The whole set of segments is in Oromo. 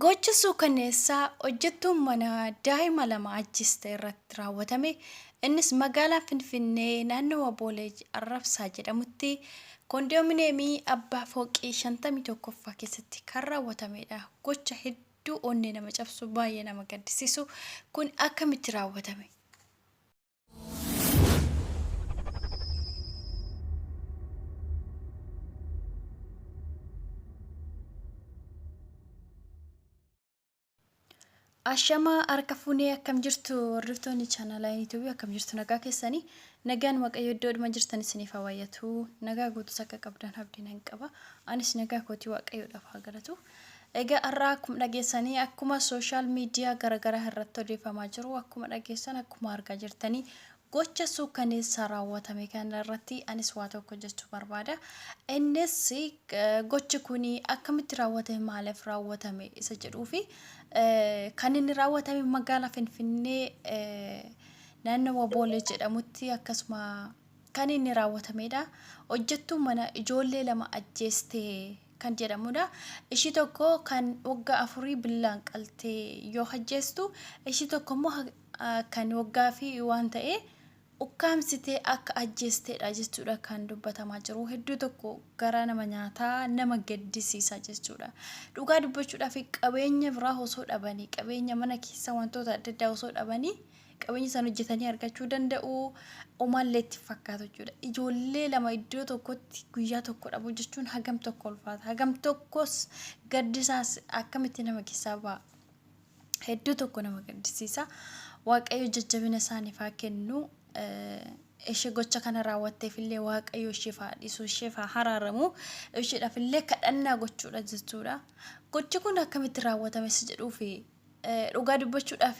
Gocha suukanneessaa hojjettuun mana daa'ima lama ajjiste irratti raawwatame innis magaalaa Finfinnee naannawa Boolee Arrabsaa jedhamutti Koondoomineemii abbaa fooqii 51ffaa keessatti kan raawwatameedha. Gocha hedduu onnee nama cabsu baay'ee nama gaddisiisu kun akkamitti raawwatame? Ashamaa harka fuunee akkam jirtu hordoftoonni chaanalaa yuutuubii akkam jirtu nagaa keessanii nagaan waaqayyo iddoo dhuma jirtan isiniif haa baay'atu nagaa guutus akka qabdan abdiin hin qaba anis nagaa kootii waaqayyoodhaaf haa galatu Egaa har'aa akkuma dhageessanii akkuma social media garagaraa irratti odeeffamaa jiru akkuma dhageessan akkuma argaa jirtanii gocha suukkaneessaa raawwatame kana irratti anis waa tokko jechuu barbaada. Innis gochi kun akkamitti raawwatame maaliif raawwatame isa jedhuu fi kan inni raawwatame magaalaa Finfinnee naannawa Boolee jedhamutti akkasuma kan inni raawwatamedha. Hojjettuu mana ijoollee lama ajjeestee kan jedhamudha. Ishii tokko kan waggaa afurii billaan qaltee yoo hajjeestu, ishii tokko immoo kan waggaa fi waan ta'ee ukkaamsitee akka ajjeesteedha jechuudha kan dubbatamaa jiru. Hedduu tokko garaa nama nyaataa nama gaddisiisa jechuudha. Dhugaa dubbachuudhaaf qabeenya biraa osoo dhabanii qabeenya mana keessa wantoota adda addaa osoo dhabanii qabeenya isaan hojjetanii argachuu danda'u omaallee itti fakkaatu jechuudha. Ijoollee lama iddoo tokkotti guyyaa tokko dhabuu jechuun hagam tokko ulfaata. Hagam tokkos gaddisaas akkamitti nama keessaa ba'a. Hedduu tokko nama gaddisiisa. Waaqayyo jajjabina isaaniif haa kennu. Ishee gocha kana raawwatteef illee waaqayyo isheef haa dhiisu, isheef haa haraaramu. Isheedhaaf illee kadhannaa gochuudha jechuudha. Gochi kun akkamitti raawwatame si jedhuufi Dhugaa dubbachuudhaaf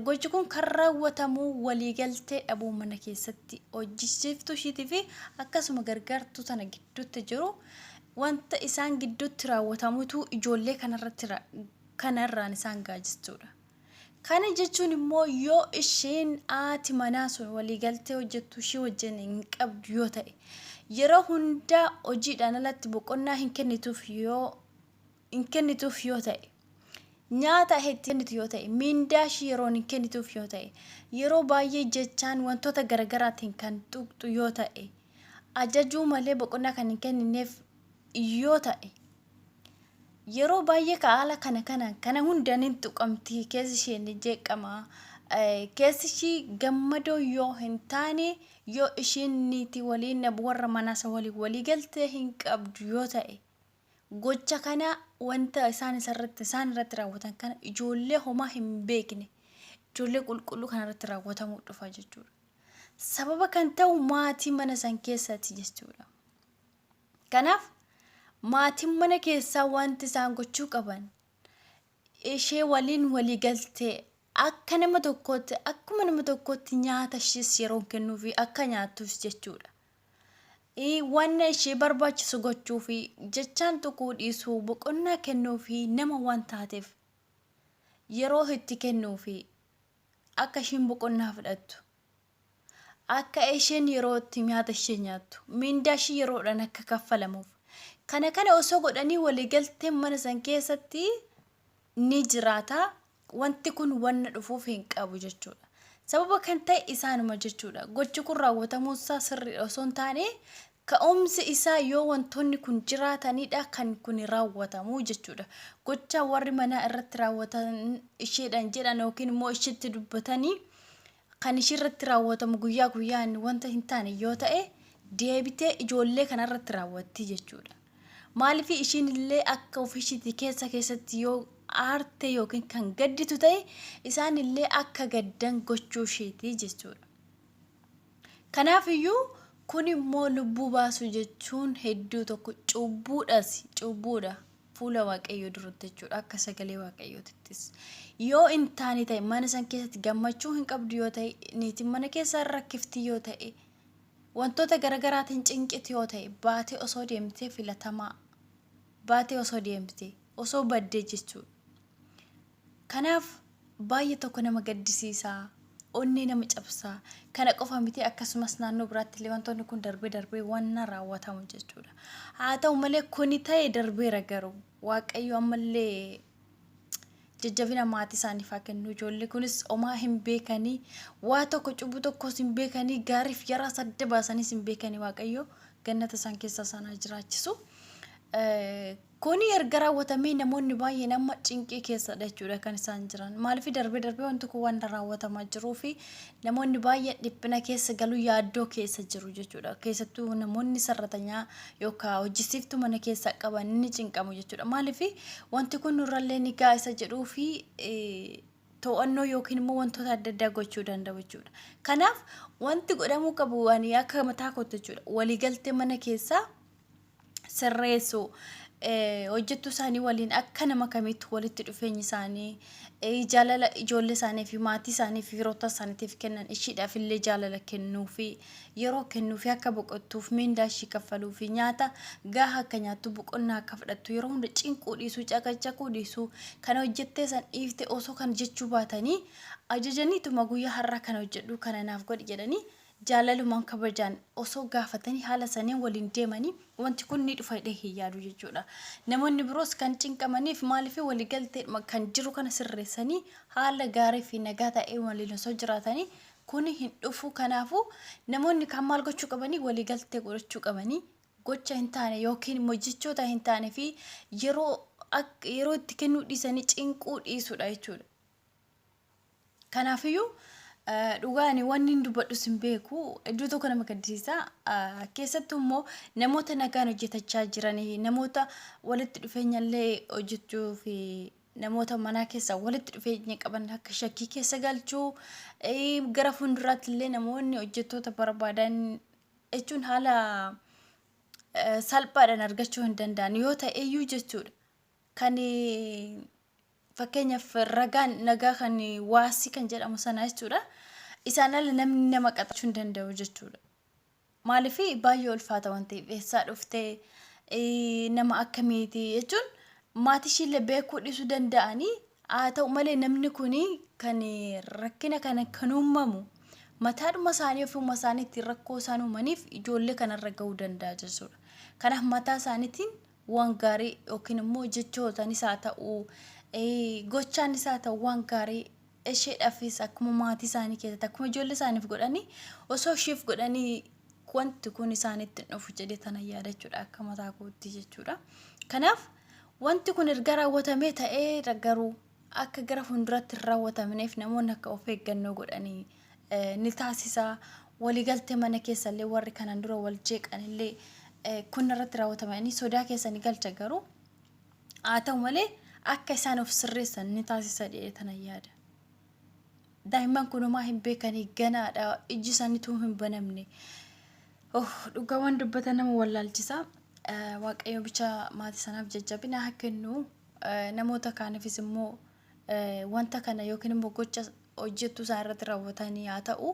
gochi kun kan raawwatamu waliigaltee dhabuu mana keessatti hojjechiiftuu ishiitii fi akkasuma gargaartuu tana gidduutti jiru wanta isaan gidduutti raawwatamutu ijoollee kanarratti ra- kana irraan isaan gaajistuudha. Kana jechuun immoo yoo isheen haati manaa sun waliigaltee hojjettu ishii wajjin hin qabdu yoo ta'e yeroo hundaa hojiidhaan alatti boqonnaa hin kennituuf yoo hin kennituuf yoo ta'e, nyaata itti kennitu yoo ta'e, miindaa ishii yeroon hin kennituuf yoo ta'e, yeroo baay'ee jechaan wantoota garagaraatiin kan tuqxu yoo ta'e, ajajuu malee boqonnaa kan hin kennineef yoo ta'e, yeroo baay'ee ka haala kana kanaan kana hundaan hin tuqamti keessi ishee ni jeeqama. Keessi ishii gammadoo yoo hin taane yoo ishiin niitii waliin warra manaasa waliin walii galtee hin qabdu yoo ta'e. Gocha kana wanta isaan isarratti isaan irratti raawwatan kana ijoollee homaa hin beekne ijoollee qulqulluu kana irratti raawwatamuu dhufa jechuudha. Sababa kan ta'u maatii mana san keessatti jechuudha. Kanaaf maatiin mana keessaa wanti isaan gochuu qaban ishee waliin walii galtee akka nama tokkootti akkuma nama tokkootti nyaata ishees yeroon kennuufi akka nyaattus jechuudha. ii Wanna ishee barbaachisu gochuu fi jechaan tuquu dhiisuu boqonnaa kennuu fi nama waan taateef yeroo itti kennuu fi akka isheen boqonnaa fudhattu akka isheen yeroo itti nyaata ishee nyaattu miindaa ishee yeroodhaan akka kaffalamuuf kana kana osoo godhanii waliigalteen mana san keessatti ni jiraata wanti kun wanna dhufuuf hin qabu jechuudha. Sababa kan ta'e isaanuma jechuudha. Gochi kun raawwatamuun isaa sirriidha osoo hin taane ka'umsi isaa yoo wantoonni kun jiraatanidha kan kuni raawwatamu jechuudha. Gocha warri manaa irratti raawwatan isheedhaan jedhan yookiin immoo isheetti dubbatanii kan ishii irratti raawwatamu guyyaa guyyaan wanta hin taane yoo ta'e deebitee ijoollee kana irratti raawwatti jechuudha. Maaliif ishiin illee akka ofiishiitti keessa keessatti yoo aarte yookiin kan gadditu ta'e isaan illee akka gaddan gochuu ishiiti jechuudha. Kanaaf iyyuu kun immoo lubbuu baasuu jechuun hedduu tokko cubbuudhas cubbuudha. fuula Waaqayyoo duratti jechuudha. Akka sagalee Waaqayyootittis. Yoo hin taane ta'e mana san keessatti gammachuu hin qabdu yoo ta'e niitiin mana keessaa hin rakkifti yoo ta'e wantoota garagaraatiin cinqiti yoo ta'e baatee osoo deemtee filatamaa baatee osoo deemtee osoo baddee jechuudha. Kanaaf baay'ee tokko nama gaddisiisa, onnee nama cabsa. Kana qofa miti akkasumas naannoo biraatti illee wantoonni kun darbee darbee wanna raawwatamu jechuudha. Haa ta'u malee kuni ta'e darbeera garuu Waaqayyo ammallee jajjabina maatii isaaniif haa kennu. Ijoollee kunis omaa hin beekanii waa tokko cubbuu tokkos hin beekanii gaariif yaraa sadda baasaniis hin beekanii Waaqayyo gannata isaan keessa isaan haa jiraachisu. Kuni erga raawwatamee namoonni baay'een amma cinqii keessadha jechuudha kan isaan jiran. Maaliif darbee darbee wanti kun wanta raawwatamaa jiruu fi namoonni baay'een dhiphina keessa galuu yaaddoo keessa jiru jechuudha. Keessattuu namoonni sarratanyaa yookaan hojjisiiftuu mana keessaa qaban ni cinqamu jechuudha. Maaliif wanti kun nurrallee ni ga'a isa jedhuu fi to'annoo yookiin immoo wantoota adda addaa gochuu danda'u jechuudha. Kanaaf wanti godhamuu qabu waan akka mataa kootti jechuudha. Waliigaltee mana keessaa sirreessu. Hojjettuu isaanii waliin akka nama kamiitti walitti dhufeenyi isaanii jaalala ijoollee isaanii fi maatii isaanii fi firoota isaaniitiif kennan ishiidhaaf illee jaalala kennuu fi yeroo kennuu fi akka boqottuuf miindaa ishii kaffaluu fi nyaata gahaa akka nyaattu boqonnaa akka fudhattu yeroo hunda cinquu dhiisuu caqacaquu dhiisuu kan hojjettee san dhiifte osoo kan jechuu baatanii ajajaniituma guyyaa har'aa kana hojjedhuu kana naaf godhi jedhanii jaalalumaan kabajaan osoo gaafatanii haala saniin waliin deemanii wanti kun ni dhufa jedhee hin yaadu jechuudha. Namoonni biroos kan cinqamaniif maaliif waliigalteedhuma kan jiru kana sirreessanii haala gaarii fi nagaa ta'een waliin osoo jiraatanii kuni hin dhufu kanaafuu namoonni kaan maal gochuu qabanii waliigaltee godhachuu qabanii gocha hin taane yookiin immoo jechoota hin taane fi yeroo ak- yeroo itti kennuu dhiisanii cinquu dhiisuudha jechuudha. Kanaafiyyuu dhugaa ani wanni hin dubbadhus hin beeku iddoo tokko nama gaddisiisa keessattuu immoo namoota nagaan hojjetachaa jiran namoota walitti dhufeenya illee hojjechuu fi namoota manaa keessa walitti dhufeenya qaban akka shakkii keessa galchuu gara fuulduraatti illee namoonni hojjettoota barbaadan jechuun haala salphaadhaan argachuu hin danda'an yoo ta'eyyuu jechuudha kan Fakkeenyaaf ragaan nagaa kan waasii kan jedhamu sana jechuudha. Isaan ala namni nama qaxachuu hin danda'u jechuudha. Maaliif baay'ee ulfaata waan ta'eef eessaa dhuftee eh, nama akkamiiti jechuun maatii ishiillee beekuu dhiisuu danda'anii haa ta'u malee namni kun kan rakkina kana kan uumamu mataadhuma isaanii ofuma isaaniitiin rakkoo isaan uumaniif ijoollee kanarra ga'uu danda'a jechuudha. Kanaaf mataa isaaniitiin waan gaarii yookiin immoo jechootanis haa ta'u gochaanis haa ta'u waan gaarii isheedhaafis akkuma maatii isaanii keessatti akkuma ijoollee isaaniif godhanii osoo isheef godhanii wanti kun isaanitti hin dhufu jedhee tana yaadachuudha akka mataa kootti jechuudha. Kanaaf wanti kun erga raawwatamee ta'ee garuu akka gara fuulduraatti hin raawwatamneef namoonni akka of eeggannoo godhanii ni taasisa. Waliigaltee mana keessallee warri kanaan dura wal jeeqanillee kun irratti raawwatamanii sodaa keessa ni galcha garuu haa ta'u malee akka isaan of sirreessan ni taasisa jedhee tana yaada. Daa'imman kun homaa hin beekanii ganaadha ijji isaanii tuu hin banamne. Oh, dhugaa waan dubbatan nama wallaalchisa. Waaqayyo bicha maatii sanaaf jajjabina haa kennu. namoota kaaniifis immoo wanta kana yookiin immoo gocha hojjettuu isaan irratti raawwatanii haa ta'u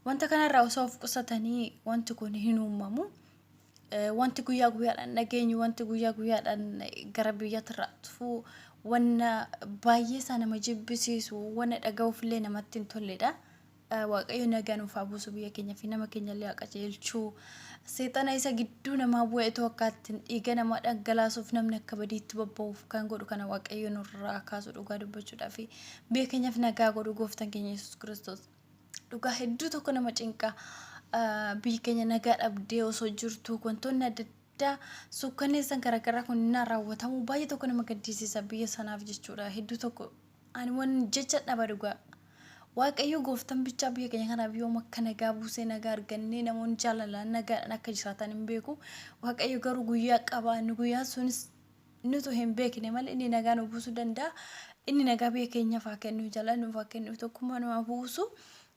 wanta kanarraa osoo of qusatanii wanti kun hin uumamu. Wanti guyyaa guyyaadhaan dhageenyu wanti guyyaa guyyaadhaan gara biyyaatti irraa dhufu wanna baay'ee isaa nama jibbisiisu wanna dhaga'uuf illee namatti hin tolledha. Waaqayyo nagaa nuuf haa buusu biyya keenya fi nama keenya illee haa qajeelchu. Seexana isa gidduu namaa bu'e itoo akka ittiin dhiiga namaa dhangalaasuuf namni akka badiitti bobba'uuf kan godhu kana Waaqayyo nurraa haa kaasu dhugaa dubbachuudhaa fi biyya keenyaaf nagaa godhu gooftan keenya Yesuus Kiristoos. Dhugaa hedduu tokko nama cinqa ah, biyyi keenya nagaa dhabdee osoo jirtu wantoonni adda addaa suukkanneessan garaagaraa kun innaa raawwatamu baay'ee tokko nama gaddisiisa biyya sanaaf jechuudha hedduu tokko Ani wan jecha dhaba dhugaa. Waaqayyoo gooftan bichaa biyya keenya kanaaf yoom akka nagaa buusee nagaa argannee namoonni jaalalaan nagaadhaan akka jiraatan hin beeku. Waaqayyo garuu guyyaa qaba inni guyyaan sunis nutu hin beekne malee inni nagaa nu buusuu danda'a. Inni nagaa biyya keenyaaf haa kennu jaalala nuuf haa kennu tokkummaa nu haa buusu.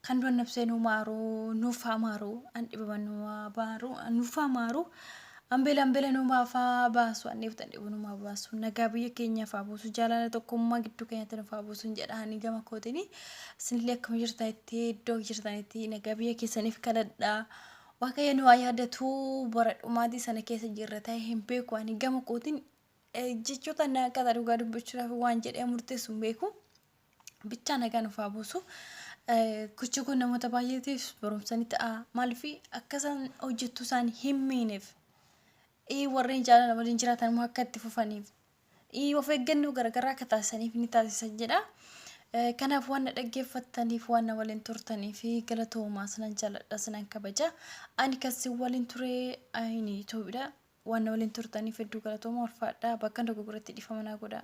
Kan du'an nafsee nuu maaru nuuf haa maaru an dhibaman nuu haa maaru nuuf haa maaru an beelan beela nuu maafaa baasu an dheebtan dheebu nuu maa baasu nagaa biyya keenyaaf haa buusu jaalala tokkummaa gidduu keenyatti nuuf haa buusu hin jedha ani gama kootini isinillee akkuma jirtaa itti iddoo jirtanitti nagaa biyya keessaniif kadhadha waaqayyo nu haa yaadatu bara dhumaatii sana keessa jirra ta'e hin beeku ani gama kootiin eh, jechoota na akkata dhugaa dubbachuudhaaf waan jedhee murteessu hin beeku. Bichaa nagaa nuuf haa buusu. Gocha kun namoota baay'eetiif barumsa ni ta'a. Maaliif akka isaan hojjettuu isaanii hin miineef. Warreen jaalala waliin jiraatan immoo akka itti fufaniif. Of eeggannoo garaagaraa akka taasisaniif ni taasisa jedha. Kanaaf waan na dhaggeeffattaniif waan na waliin turtaniif galatoomaa sinan jaalladha sinan kabaja. Ani kan si waliin ture ani Itoophiidha. Waan na waliin turtaniif hedduu galatoomaa ulfaadha. Bakka dogoggoratti dhiifama naa godha.